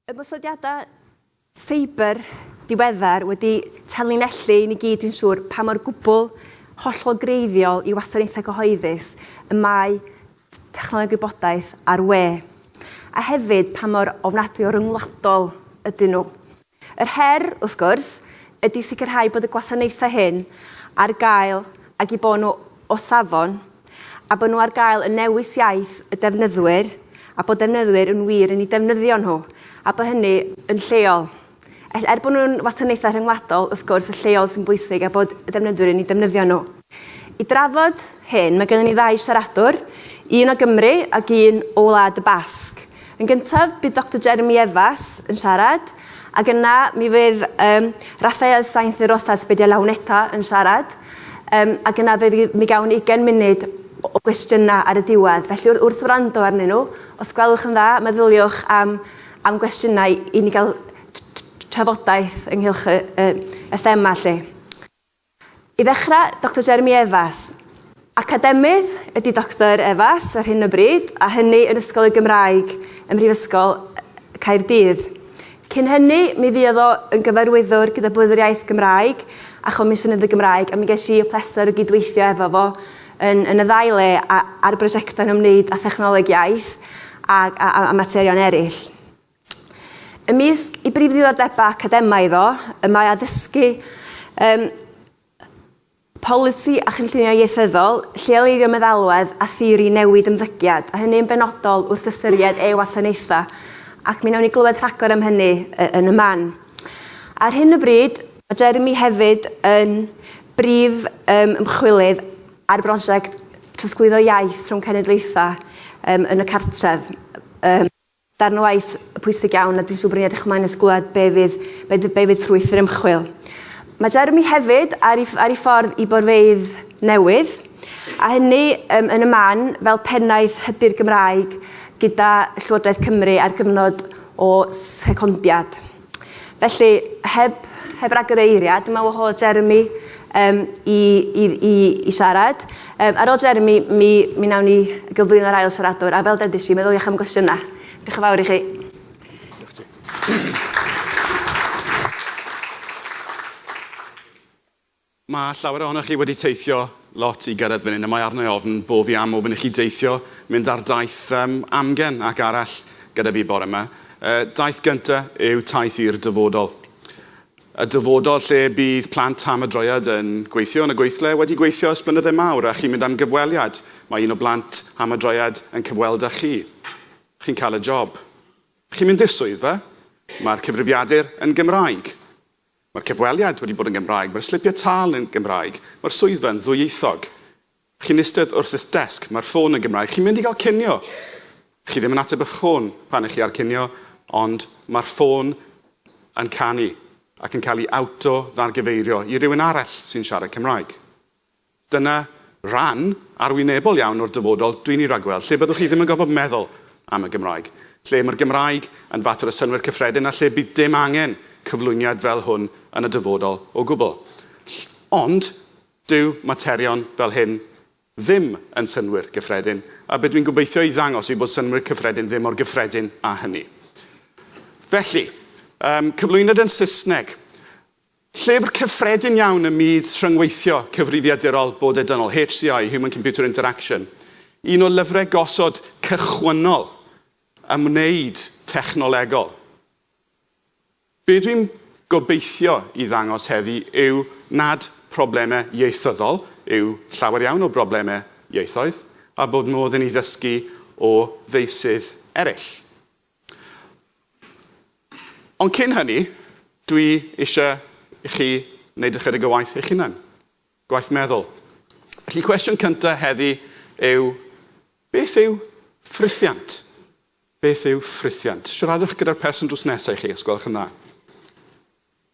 Ymosodiadau seiber diweddar wedi tanlinellu i ni gyd, dwi'n siŵr, pa mor gwbl hollol greiddiol i wasanaethau cyhoeddus y mae technoleg gwybodaeth a'r we, a hefyd pa mor ofnadwy o ryngwladol ydyn nhw. Yr her, wrth gwrs, ydy sicrhau bod y gwasanaethau hyn ar gael ag eu bod nhw o safon, a bod nhw ar gael yn newis iaith y defnyddwyr, a bod defnyddwyr yn wir yn eu defnyddio nhw, a bod hynny yn lleol. Er bod nhw'n wasanaethau rhyngwladol, wrth gwrs, y lleol sy'n bwysig a bod y defnyddwyr yn eu defnyddio nhw. I drafod hyn, mae gennym ni ddau siaradwr, un o Gymru ac un o Wlad y Basg. Yn gyntaf, bydd Doctor Jeremy Evas yn siarad, ac yna mi fydd um, Rafael Sainz de Rozas Bedia Launeta yn siarad, um, ac yna fe, mi gawn ni 20 munud o gwestiynau ar y diwedd. Felly wrth wrando arnyn nhw, os gwelwch yn dda, meddyliwch am, am gwestiynau i ni gael trafodaeth ynghylch y, y, y thema lle. I ddechrau, Doctor Jeremy Evas. Academydd ydy Doctor Evas ar hyn o bryd, a hynny yn Ysgol y Gymraeg ym Mhrifysgol Caerdydd. Cyn hynny, mi fuodd o yn gyfarwyddwr gyda Bwrdd yr Iaith Gymraeg a Chomisiynydd y Gymraeg, a mi ges i y pleser o gydweithio efo fo yn, yn y ddau le, a, ar brosiectau'n ymwneud â thechnoleg iaith a, a, a materion eraill. Ymysg ei brif ddiddordebau academaidd o, y mae addysgu um, polisi a chynllunio ieithyddol, lleoleiddio meddalwedd a theori newid ymddygiad, a hynny yn benodol wrth ystyried ei wasanaethau, ac mi wnawn ni glywed rhagor am hynny yn y man. Ar hyn o bryd, mae Jeremy hefyd yn brif um, ymchwilydd ar brosiect trosglwyddo iaith rhwng cenedlaethau um, yn y cartref. Um, Darn o waith pwysig iawn a dwi'n siŵr bod ni'n edrych ymlaen at glywed be fydd, be fydd, be fydd ffrwyth yr ymchwil. Mae Jeremy hefyd ar ei, ar ei ffordd i borfeydd newydd, a hynny um, yn y man fel pennaeth hybu'r Gymraeg gyda Llywodraeth Cymru ar gyfnod o secondiad. Felly, heb, heb ragor o eiriau, dyma wahodd Jeremy um, i, i, i, i siarad. Um, ar ôl Jeremy, mi, mi nawn ni gyflwyno'r ail siaradwr, a fel dedis i, meddyliwch am gwestiynau. Diolch yn fawr i chi. Diolch ti. Mae llawer ohonoch chi wedi teithio lot i gyrraedd fan hyn a mae arna i ofn bo fi am ofyn i chi deithio, mynd ar daith yym amgen ac arall gyda fi bore ma. Y daith gynta yw taith i'r dyfodol. Y dyfodol lle bydd plant am y droiad yn gweithio yn y gweithle wedi gweithio ers blynydde mawr a chi'n mynd am gyfweliad, mae un o blant am y droiad yn cyfweld a chi. Chi'n cael y job. Chi'n mynd i'r swyddfa. Mae'r cyfrifiadur yn Gymraeg. Mae'r cyfweliad wedi bod yn Gymraeg, mae'r slipiau tâl yn Gymraeg, mae'r swyddfa yn ddwyieithog. Chi'n eistedd wrth eich desg, mae'r ffôn yn Gymraeg, chi'n mynd i gael cinio! Chi ddim yn ateb eich ffôn pan 'ych chi ar cinio, ond mae'r ffôn yn canu ac yn cael ei awto-ddargyfeirio i rywun arall sy'n siarad Cymraeg. Dyna ran arwynebol iawn o'r dyfodol dwi'n ei ragweld, lle byddwch chi ddim yn gorfod meddwl am y Gymraeg, lle mae'r Gymraeg yn fater o synnwyr cyffredin a lle bydd dim angen cyflwyniad fel hwn yn y dyfodol o gwbl. Ll. Ond, dyw materion fel hyn ddim yn synnwyr gyffredin, a be dwi'n gobeithio i ddangos yw bod synnwyr cyffredin ddim mor gyffredin â hynny. Felly, yym, cyflwyniad yn Saesneg. Llyfr cyffredin iawn ym myd rhyngweithio cyfrifiadurol bodedynol, HCI, Human Computer Interaction, un o lyfrau gosod cychwynnol ym wneud technolegol. Be dwi'n gobeithio i ddangos heddi yw nad problemau ieithyddol yw llawer iawn o broblemau ieithoedd, a bod modd i ni ddysgu o feysydd eraill. Ond cyn hynny, dwi eisiau i chi wneud ychydig o waith eich hunan, gwaith meddwl. Felly, cwestiwn cyntaf heddi yw, beth yw ffrithiant? Beth yw ffrithiant? Siaradwch gyda'r person drws nesaf i chi, os gwelwch yn dda.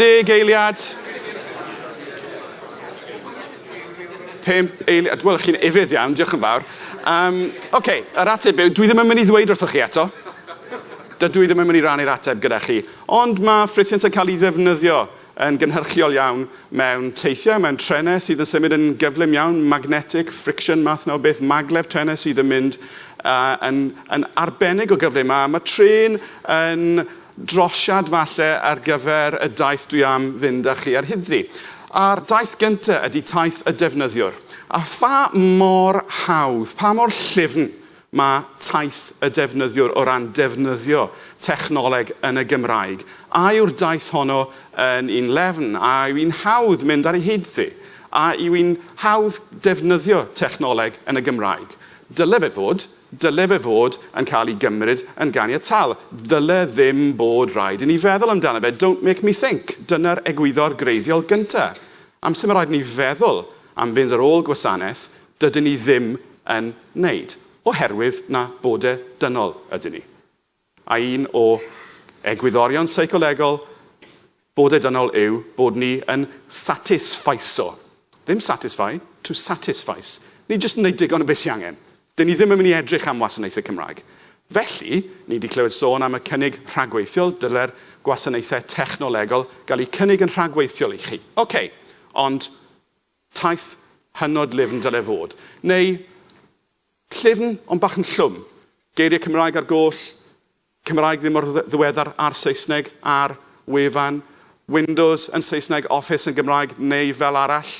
Deg eiliad. Pimp eiliad. Wel, chi'n efydd iawn, diolch yn fawr. Um, Oce, okay, yr ateb yw, dwi ddim yn mynd i ddweud wrthoch chi eto. Dydw i ddim yn mynd i rannu'r ateb gyda chi. Ond mae ffrithiant yn cael ei ddefnyddio yn gynhyrchiol iawn mewn teithiau, mewn trenau sydd yn symud yn gyflym iawn, magnetic friction math 'na o beth, maglev trenau sydd yn mynd yn yn arbennig o gyflym, a ma' trên yn drosiad falle ar gyfer y daith dwi am fynd â chi ar hyddi. A'r daith gynta ydi taith y defnyddiwr. A pha mor hawdd, pa mor llyfn Mae taith y defnyddiwr o ran defnyddio technoleg yn y Gymraeg, a yw'r daith honno yn un lefn, a yw hi'n hawdd mynd ar ei hyd ddi, a yw hi'n hawdd defnyddio technoleg yn y Gymraeg. Dyle fe fod, dyle fe fod yn cael ei gymryd yn ganiataol. Ddyle ddim bod rhaid i ni feddwl amdano fe, don't make me think, dyna'r egwyddor greiddiol gyntaf. Amser mae rhaid i ni feddwl am fynd ar ôl gwasanaeth, dydyn ni ddim yn wneud, oherwydd na bod e dynol ydyn ni. A un o egwyddorion seicolegol bod e dynol yw bod ni yn satisfaiso, ddim satisfy, to satisfice, ni jyst yn wneud digon o beth sy angen. Dyn ni ddim yn mynd i edrych am wasanaethau Cymraeg. Felly, ni wedi clywed sôn am y cynnig rhagweithiol, dyle'r gwasanaethau technolegol gael eu cynnig yn rhagweithiol i chi. Ok, ond Taith hynod lifn dyle fod. Neu, llyfn ond bach yn llwm. Geiriau Cymraeg ar goll, Cymraeg ddim mor ddiweddar â'r Saesneg ar wefan, Windows yn Saesneg, Office yn Gymraeg neu fel arall.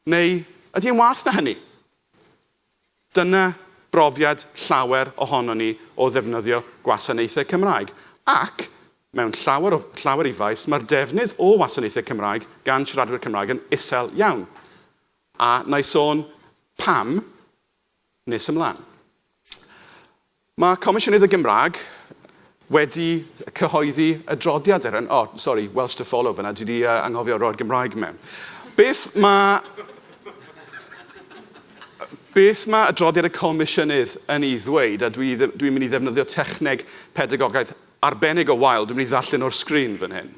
Neu, ydy e'n waeth na hynny? Dyna brofiad llawer ohonon ni o ddefnyddio gwasanaethau Cymraeg, ac, mewn llawer o llawer i faes, mae'r defnydd o wasanaethau Cymraeg gan siaradwyr Cymraeg yn isel iawn, a wna i sôn pam nes ymlaen. Mae Comisiynydd y Gymraeg wedi cyhoeddi adroddiad ar hyn. O, sori, Welsh to follow fyna, dwi wedi anghofio roi'r Gymraeg mewn. Beth mae beth mae adroddiad y Comisiynydd yn ei ddweud, a dwi dwi'n mynd i ddefnyddio techneg pedagogaidd arbennig o wael, dwi'n mynd i ddarllen o'r sgrin fan hyn.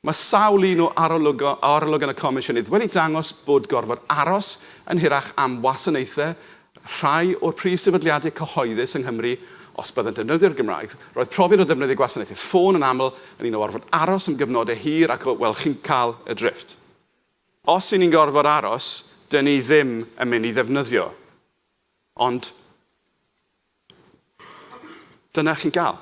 Mae sawl un o arolygon y Comisiynydd wedi dangos bod gorfod aros yn hirach am wasanaethau rhai o'r prif sefydliadau cyhoeddus yng Nghymru os byddant yn defnyddio'r Gymraeg. Roedd profiad o ddefnyddio gwasanaethau ffôn yn aml yn un o orfod aros am gyfnodau hir ac, wel, chi'n cael y drifft. Os 'y ni'n gorfod aros, 'dyn ni ddim yn mynd i ddefnyddio, ond dyna chi'n gael.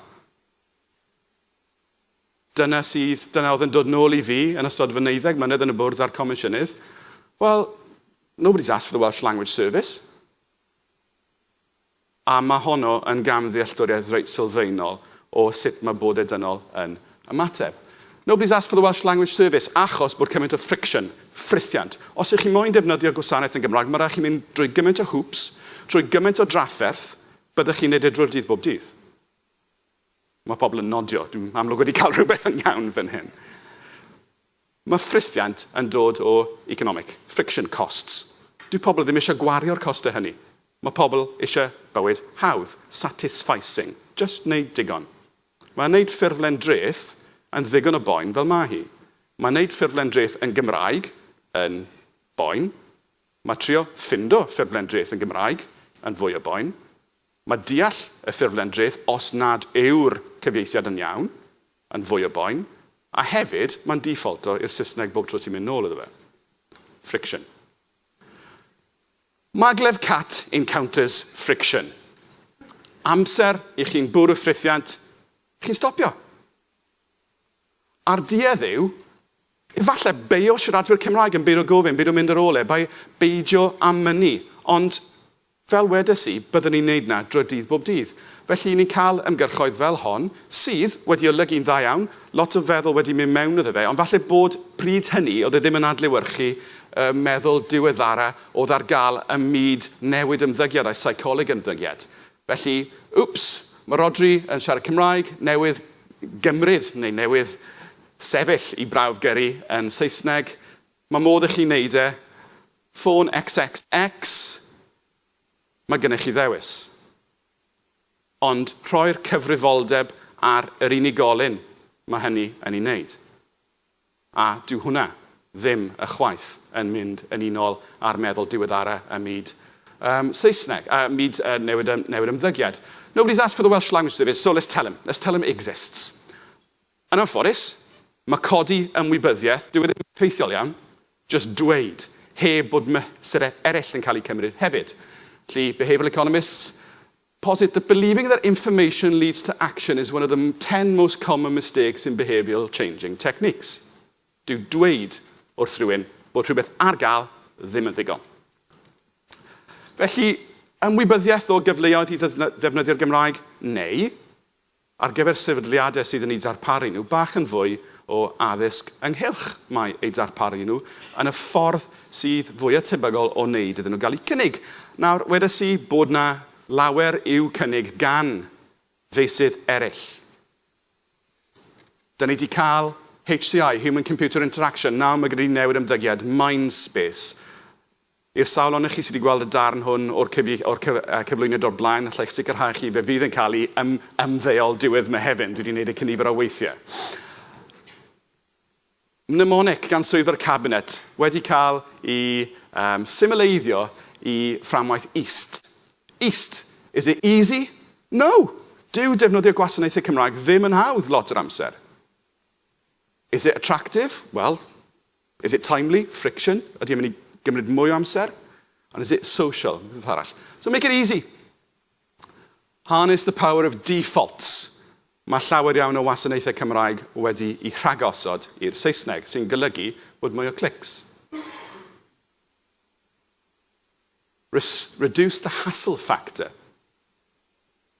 Dyna sydd, dyna oedd yn dod nôl i fi yn ystod fy neuddeg mlynedd yn y bwrdd a'r comisiynydd, Well, nobody's asked for the Welsh Language Service. A mae honno yn gamddealltwriaeth reit sylfaenol o sut mae Bode Dynol yn ymateb. Nobody's asked for the Welsh Language Service achos bod cymaint o friction, ffrithiant. Os ych chi moyn defnyddio gwasanaeth yn Gymraeg, mae rhaid chi mynd drwy gymaint o hwps, trwy gymaint o drafferth, byddech chi'n neud e drwy'r dydd bob dydd. Mae pobl yn nodio. Dwi'n amlwg wedi cael rhywbeth yn iawn fan hyn. Mae ffrithiant yn dod o economic, friction costs. Dyw pobl ddim eisiau gwario'r costau hynny. Mae pobl eisiau bywyd hawdd, satisficing, jyst wneud digon. Mae wneud ffurflen dreth yn ddigon o boen fel mae hi. Mae wneud ffurflen dreth yn Gymraeg yn boen. Mae trio ffindo ffurflen dreth yn Gymraeg yn fwy o boen. Mae deall y ffurflen dreth os nad yw'r cyfieithiad yn iawn yn fwy o boen, a hefyd mae'n dîffolto i'r Saesneg bob tro ti'n mynd nôl iddo fe. Friction. Maglev cat encounters friction. Amser i chi'n bwrw ffrithiant, chi'n stopio. A'r duedd yw, efallai, beio siaradwyr Cymraeg yn beidio gofyn, beidio mynd ar ôl e, beidio â mynnu, ond Fel wedes i, byddwn ni'n neud 'na dro dydd bob dydd. Felly, 'yn ni'n cael ymgyrchoedd fel hon, sydd wedi olygu'n dda iawn, lot o feddwl wedi mynd mewn iddo fe, ond falle bod, pryd hynny oedd e ddim yn adlewyrchu y meddwl diweddara oedd ar gael ym myd newid ymddygiad a seicoleg ymddygiad. Felly, wps, mae Rhodri yn siarad Cymraeg, newydd gymryd, neu newydd sefyll i brawf gyrru yn Saesneg, Mae modd i chi wneud e. Ffôn XXX, mae gennych chi ddewis. Ond rhoi'r cyfrifoldeb ar yr unigolyn mae hynny yn ei wneud. A dyw hwnna ddim ychwaith yn mynd yn unol â'r meddwl diweddara ym myd yym Saesneg, ym myd yy newid ym newid ymddygiad. Nobody's asked for the Welsh language service, so let's tell him. Let's tell him it exists. Yn anffodus, mae codi ymwybyddiaeth, dyw e ddim yn effeithiol iawn, jyst dweud, heb bod mesurau eraill yn cael eu cymryd hefyd. Felly, behavioural economists posit that believing that information leads to action is one of the ten most common mistakes in behavioural changing techniques. Dyw dweud wrth rywun bod rhywbeth ar gael ddim yn ddigon. Felly, ymwybyddiaeth o gyfleoedd i ddefnyddio'r Gymraeg, neu ar gyfer sefydliadau sydd yn eu darparu nhw bach yn fwy o addysg ynghylch mai eu darparu nhw yn y ffordd sydd fwya tebygol o wneud iddyn nhw gael eu cynnig. Nawr, wedes i bod yna lawer i'w cynnig gan feysydd eraill. Da ni di cael HCI, Human Computer Interaction, nawr mae gyda ni newid ymddygiad, Mindspace, I'r sawl ohonoch chi sydd wedi gweld y darn hwn o'r cyfieith- o'r cyf- yy cyflwyniad o'r blaen, alla i'ch sicrhau chi fe fydd yn cael ei ym- ymddeol diwedd Mehefin. Dwi wedi gwneud e cynifer o weithiau. Mnemonic gan Swyddfa'r Cabinet wedi cael ei um, simileiddio i fframwaith east. East. Is it easy? No! Dyw defnyddio gwasanaethau Cymraeg ddim yn hawdd lot o'r amser. Is it attractive? Wel, Is it timely? Friction? Ydy e'n mynd i gymryd mwy o amser? And is it social? Rhywbeth arall. So make it easy. Harness the power of defaults. Mae llawer iawn o wasanaethau Cymraeg wedi i rhagosod i'r Saesneg, sy'n golygu bod mwy o clics. Reduce the hassle factor.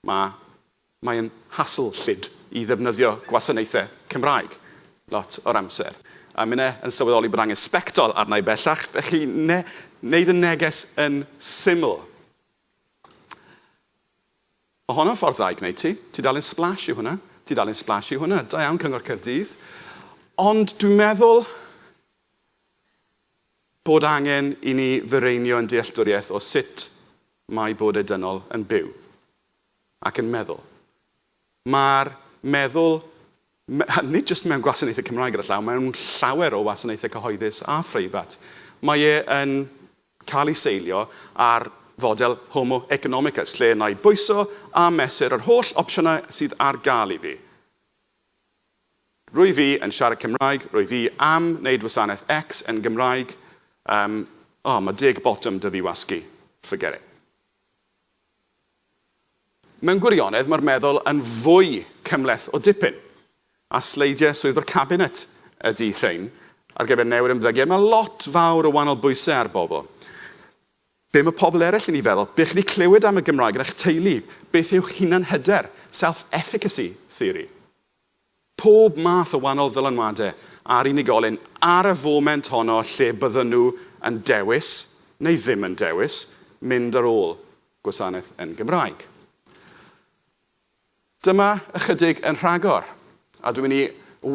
Mae, mae'n hassle llid i ddefnyddio gwasanaethau Cymraeg lot o'r amser. A minne yn sylweddoli bod angen sbectol arna i bellach, felly ne, neud y neges yn syml. Mae honno'n ffordd dda i gwneud ti. Tudalen Splash yw hwnna. Tudalen Splash yw hwnna. Da iawn Cyngor Caerdydd. Ond dwi'n meddwl, Bod angen i ni fireinio ein dealltwriaeth o sut mae bod y dynol yn byw ac yn meddwl. Mae'r meddwl, nid jyst mewn gwasanaethau Cymraeg ar y llaw, mewn llawer o wasanaethau cyhoeddus a phreifat, mae e yn cael ei seilio ar fodel homo economicus, lle na i bwyso a mesur yr holl opsiynau sydd ar gael i fi. Rwyf i yn siarad Cymraeg, rwyf i am wneud wasanaeth X yn Gymraeg, yym, o, mae deg botwm 'da fi wasgu, forget it. Mewn gwirionedd, mae'r meddwl yn fwy cymhleth o dipyn, a sleidiau Swyddfa'r Cabinet ydy rhein ar gyfer newid ymddygiad. Mae lot fawr o wahanol bwysau ar bobl. Be mae pobl eraill yn ei feddwl? Be chi'n ei clywed am y Gymraeg yn eich teulu? Beth yw'ch hunanhyder, self-efficacy theory? Pob math o wahanol ddylanwadau ar unigolyn ar y foment honno lle bydden nhw yn dewis, neu ddim yn dewis, mynd ar ôl gwasanaeth yn Gymraeg. Dyma ychydig yn rhagor, a dwi'n mynd i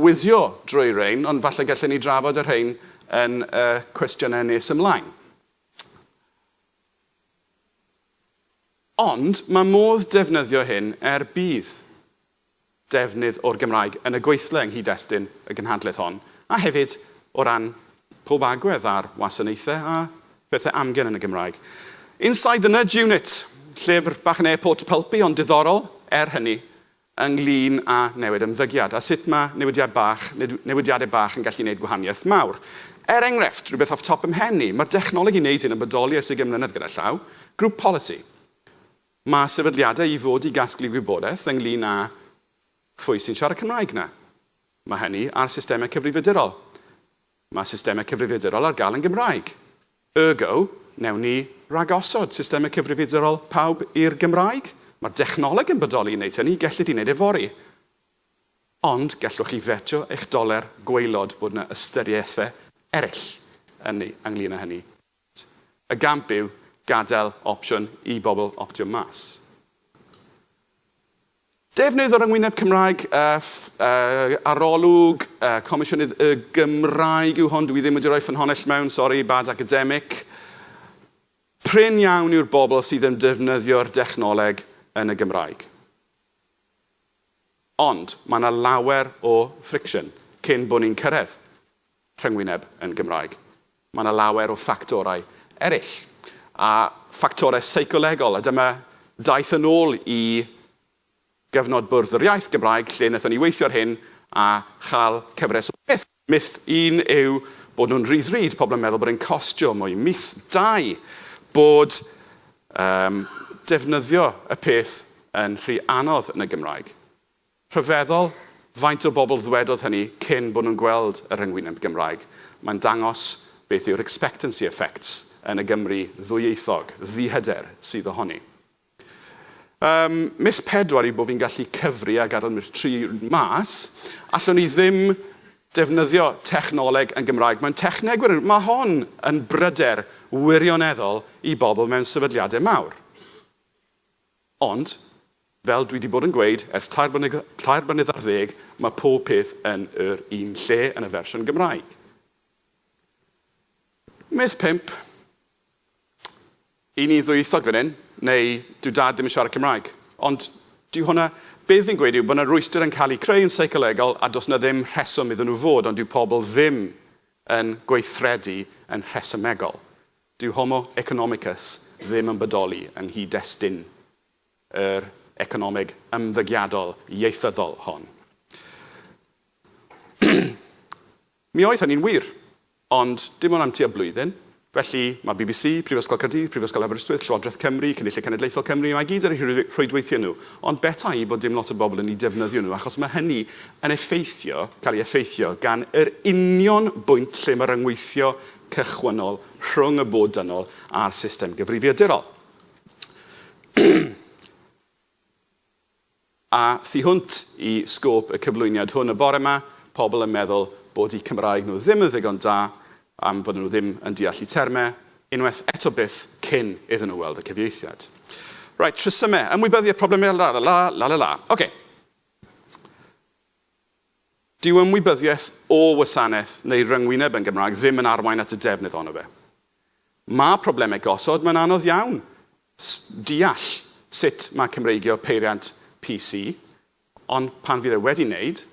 wizio drwy rein, ond falle gallen ni drafod y rhein yn y cwestiynau nes ymlaen. Ond mae modd defnyddio hyn er budd. defnydd o'r Gymraeg yn y gweithle yng nghyd-destun y gynhadledd hon, a hefyd o ran pob agwedd ar wasanaethau a phethau amgen yn y Gymraeg. Inside the Nudge Unit, llyfr bach yn air port pulpy ond diddorol, er hynny, ynglŷn â newid ymddygiad, a sut mae newidiad bach, neu newidiadau bach yn gallu gwneud gwahaniaeth mawr. Er enghraifft, rhywbeth off top 'y mhen i, mae'r dechnoleg i wneud hyn yn bodoli ers ugain mlynedd gyda llaw, grŵp polisi. Mae sefydliadau i fod i gasglu gwybodaeth ynglŷn â phwy sy'n siarad Cymraeg 'na. Mae hynny ar systemau cyfrifiadurol. Mae systemau cyfrifiadurol ar gael yn Gymraeg. Ergo, wnewn ni ragosod systemau cyfrifiadurol pawb i'r Gymraeg? Mae'r dechnoleg yn bodoli i wneud hynny, gellid ei wneud yfory. Ond gallwch chi fetio eich doler gwaelod bod 'na ystyriaethau eraill ynglŷn â hynny. T, Y gamp yw gadael opsiwn i bobl optio mas. Defnydd o ryngwyneb Cymraeg, ff, arolwg, comisiynydd Y Gymraeg yw hon, dw i ddim wedi rhoi ffynhonnell mewn, sori, bad academic. Prin iawn yw'r bobl sydd yn defnyddio'r dechnoleg yn y Gymraeg. Ond, mae yna lawer o friction cyn bod ni'n cyrraedd. rhyngwyneb yn Gymraeg. Mae yna lawer o ffactorau eraill, a ffactorau seicolegol, a dyma daeth yn ôl i gyfnod Bwrdd yr Iaith Gymraeg lle wnaethon ni weithio ar hyn a chael cyfres o bethau. Myth un yw bod nhw'n rhy ddrud, pobl yn meddwl bod e'n costio mwy. Myth dau, bod defnyddio y peth yn rhy anodd yn y Gymraeg. Rhyfeddol faint o bobl ddwedodd hynny cyn bod nhw'n gweld y rhyngwyneb Gymraeg. Mae'n dangos beth yw'r expectancy effects yn y Gymru ddwyieithog, ddihyder, sydd ohoni. Ym mis pedwar yw bod fi'n gallu cyfri a gadael mis tri mas. Allwn i ddim defnyddio technoleg yn Gymraeg. Mae'n techneg wir yn... Mae hon yn bryder wirioneddol i bobl mewn sefydliadau mawr. Ond, fel dwi 'di bod yn gweud ers tair blynedd, tair blynedd ar ddeg, mae pob peth yn yr un lle yn y fersiwn Gymraeg. Myth pump, Y' ni'n ddwyieithog fan hyn, neu dyw Dad ddim yn siarad Cymraeg. Ond, dyw hwnna, be dw i'n gweud yw bod 'na rwystr yn cael ei creu yn seicolegol a does 'na ddim rheswm iddyn nhw fod, ond dyw pobl ddim yn gweithredu yn rhesymegol. Dyw Homo economicus ddim yn bodoli yng nghyd-destun yr economeg ymddygiadol ieithyddol hon. Mi oedd hynny'n wir, ond dim ond am tua blwyddyn. Felly, mae bbc, Prifysgol Caerdydd, Prifysgol Aberystwyth, Llywodraeth Cymru, Cynulliad Cenedlaethol Cymru, mae gyd ar eu rhwydweithiau nhw, ond beta i bod dim lot o bobl yn eu defnyddio nhw, achos mae hynny yn effeithio, cael ei effeithio gan yr union bwynt lle mae rhyngweithio cychwynnol rhwng y bwrdd dynol a'r system gyfrifiadurol. A thu hwnt i sgôp y cyflwyniad hwn y bore yma, pobl yn meddwl bod eu Cymraeg nhw ddim yn ddigon da, am fod nhw ddim yn deall y termau, unwaith eto byth cyn iddyn nhw weld y cyfieithiad. Right, rhesymau, ymwybyddu y problemau, la la la, la la la. Ocê. Dyw ymwybyddiaeth o wasanaeth neu ryngwyneb yn Gymraeg ddim yn arwain at y defnydd ohono fe. Mae problemau gosod, mae'n anodd iawn deall sut mae Cymreigio peiriant PC, ond pan fydd e wedi wneud,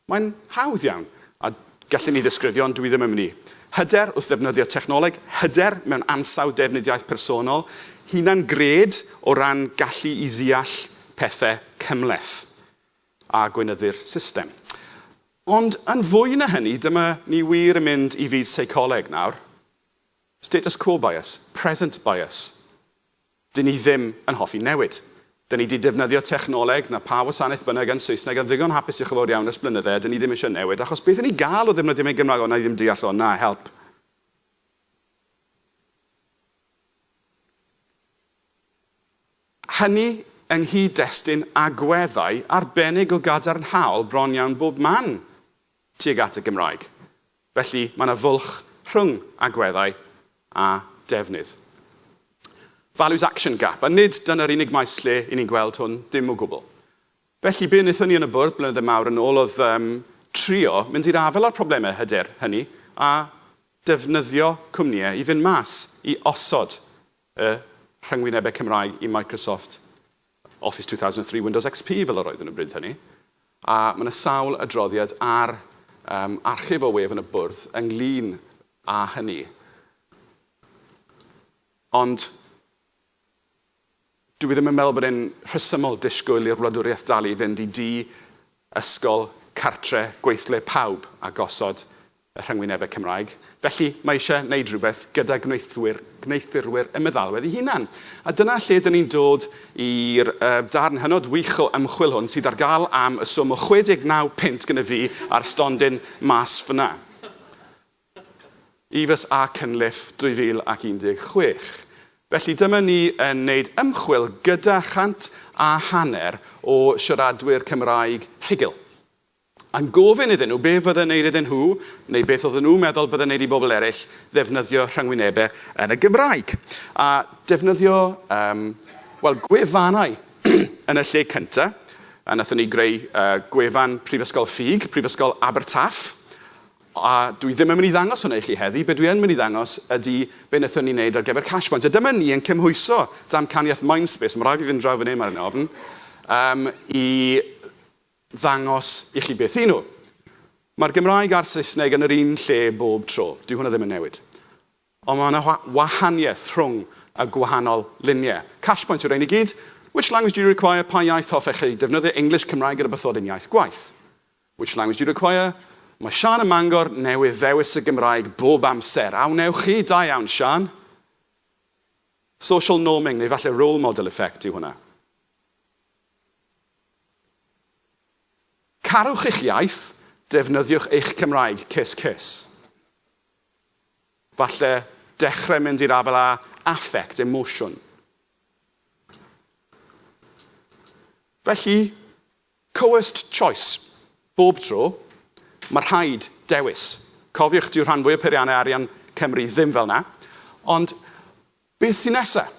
mae'n hawdd iawn, a gallwn ni ddisgrifio ond dwi ddim yn mynd i. Hyder wrth ddefnyddio technoleg, hyder mewn ansawdd defnydd iaith personol, hunan-gred o ran gallu i ddeall pethau cymhleth. a gweinyddu'r system. Ond yn fwy na hynny, dyma ni wir yn mynd i fyd seicoleg nawr. Status quo bias, present bias. Dyn ni ddim yn hoffi newid. Dyn ni 'di defnyddio technoleg, na pha wasanaeth bynnag yn Saesneg, yn ddigon hapus diolch yn fawr iawn ers blynydde a dyn ni ddim eisiau newid achos beth 'yn ni'n gael o ddefnyddio fe'n Gymraeg, o wna i ddim deall o, na help. Hynny yng nghyd-destun agweddau arbennig o gadarnhaol bron iawn bob man tuag at y Gymraeg. Felly, mae yna fwlch rhwng agweddau a defnydd. Values action gap. A nid dyna'r unig maes lle i ni'n gweld hwn, dim o gwbl. Felly, be wnaethon ni yn y Bwrdd blynydde mawr yn ôl oedd um, trio mynd i'r afael â'r problemau hyder hynny a defnyddio cwmnïau i fynd mas i osod y rhyngwynebau Cymraeg i Microsoft Office 2003 Windows XP fel yr oeddwn yn bryd hynny, a mae yna sawl adroddiad ar um, archif o wef yn y bwrdd ynglyn â hynny. Ond dwi ddim yn meddwl bod e'n rhesymol disgwyl i'r wladwriaeth dalu i fynd i di, ysgol, cartre, gweithle pawb a gosod y rhyngwynebau Cymraeg, felly mae eisiau wneud rhywbeth gyda gwneuthwyr, gwneuthurwyr y meddalwedd ei hunan. A dyna lle dyn ni'n dod i'r yy darn hynod wych o ymchwil hwn sydd ar gael am y swm o 69 punt gyda fi a'r stondin mas fan'na. Eaves a Cunliffe 2016. Felly dyma ni yn wneud ymchwil gyda chant a hanner o siaradwyr Cymraeg rhugl. Yn gofyn iddyn nhw be fydde'n wneud iddyn nhw, neu beth oedden nhw'n meddwl bydde'n wneud i bobl eraill ddefnyddio rhyngwynebau yn y Gymraeg. A defnyddio yym wel gwefannau yn y lle cynta'. A wnaethon ni greu yy gwefan Prifysgol Ffug, Prifysgol Abertaff. A dwi ddim yn mynd i ddangos hwnna i chi heddi, be dwi yn mynd i ddangos ydy be wnaethon ni wneud ar gyfer Cashpoint. A dyma ni yn cymhwyso damcaniaeth Mindspace, ma' raid fi fynd draw fan hyn, maen nhw'n ofn, yym i ddangos i chi beth y'n nhw. Mae'r Gymraeg a'r Saesneg yn yr un lle bob tro, dyw hwnna ddim yn newid. Ond mae 'na wahaniaeth rhwng y gwahanol luniau. Cash point yw rhein i gyd. Which language do you require? Pa iaith hoffech chi defnyddio? English, Cymraeg a rywbeth fod yn iaith gwaith. Which language do you require? Mae Siân ym Mangor newydd ddewis y Gymraeg bob amser. A wnewch chi? Da iawn, Siân. Social norming, neu falle role model effect yw hwnna. Carwch eich iaith, defnyddiwch eich Cymraeg, cys cys. Falle dechrau mynd i'r afael â affect, emosiwn. Felly, coerced choice. Bob tro, mae rhaid dewis. Cofiwch, dyw rhan fwyaf peiriannau arian Cymru ddim fel 'na. Ond beth sy'n nesaf?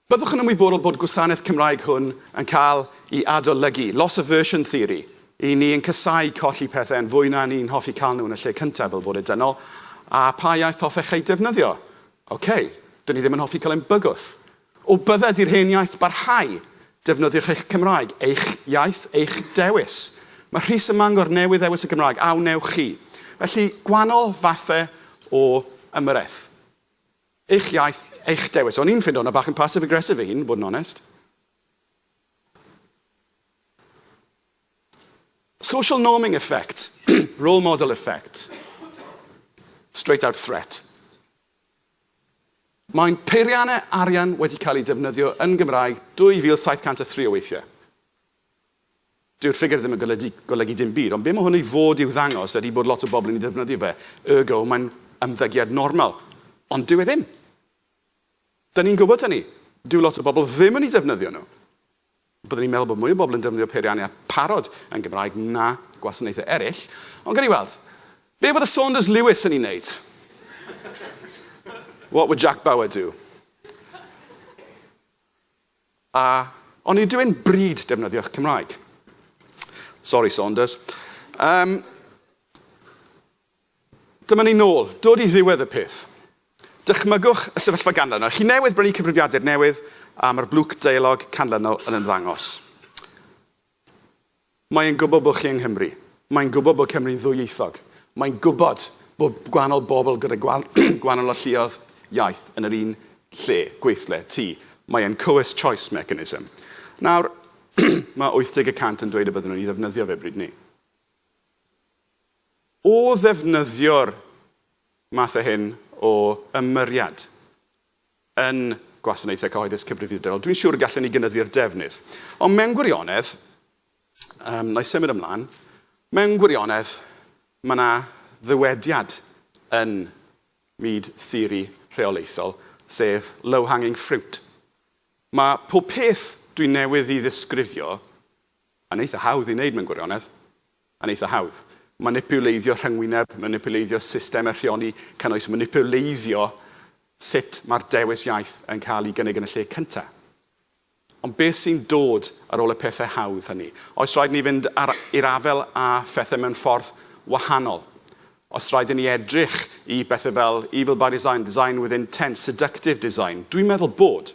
Byddwch yn ymwybodol bod gwasanaeth Cymraeg hwn yn cael i adolygu, loss aversion theory, i ni yn casáu colli pethau yn fwy na ni'n hoffi cael nhw yn y lle cyntaf fel bod e dynol, a pa iaith hoffech ei defnyddio? Ok, dyn ni ddim yn hoffi cael ein bygwth. O bydded i'r hen iaith barhau, defnyddiwch eich Cymraeg, eich iaith, eich dewis. Mae Rhys ym Mangor newydd ddewis y Gymraeg, a wnewch chi? Felly, gwanol fathau o ymyrraeth. Eich iaith, eich dewis. O'n i'n ffindo hwnna bach yn passive aggressive fy hun, bod yn onest. Social norming effect, role model effect, straight out threat. Mae'n peiriannau arian wedi cael eu defnyddio yn Gymraeg 2703 o weithiau. Dyw'r ffigur ddim yn golydu, golygu dim byd, ond be mae hwn i fod i'w ddangos ydy bod lot o bobl yn ei ddefnyddio fe, ergo mae'n ymddygiad normal. Ond dyw e ddim. Dyn ni'n gwybod hynny. Dyw lot o bobl ddim yn eu defnyddio nhw. Byddwn i'n meddwl bod mwy o bobl yn defnyddio peiriannau a pharod yn Gymraeg na gwasanaethau eraill, ond gawn ni weld. Be fydde Saunders Lewis yn ei wneud? What would Jack Bauer do? A o'n i dwyn bryd defnyddio'ch Cymraeg? Sori Saunders. Yym, Dyma ni nôl, dod i ddiwedd y peth. Dychmygwch y sefyllfa ganlynol. Chi newydd brynu cyfrifiadur newydd a mae'r blwc deialog canlynol yn ymddangos. Mae'n gwybod bod chi yng Nghymru. Mae'n gwybod bod Cymru'n ddwyieithog. Mae'n gwybod bod gwahanol bobl gyda gwahanol alluoedd iaith yn yr un lle, gweithle, tŷ. Mae e'n cywir choice mechanism. Nawr, mae 80 y cant yn dweud y bydden nhw'n ei ddefnyddio fe bryd 'ny. O ddefnyddio'r math o hyn o ymyriad, yn gwasanaethau cyhoeddus cyfrifiadurol, dwi'n siŵr y gallen ni gynyddu'r defnydd. Ond mewn gwirionedd, um, na i symud ymlaen, mewn gwirionedd, mae yna ddywediad yn myd theori rheolaethol, sef low-hanging fruit. Mae pob peth dwi'n newydd i ddisgrifio yn eitha hawdd i wneud mewn gwirionedd. yn eitha hawdd. Manipuleiddio rhyngwyneb, manipuleiddio systemau rheoli cynnwys, manipuleiddio sut mae'r dewis iaith yn cael ei gynnig yn y lle cyntaf. Ond beth sy'n dod ar ôl y pethau hawdd hynny? Oes rhaid i ni fynd i'r afael â phethau mewn ffordd wahanol? Os rhaid i ni edrych i bethau fel evil by design, design with intent, seductive design? Dwi'n meddwl bod.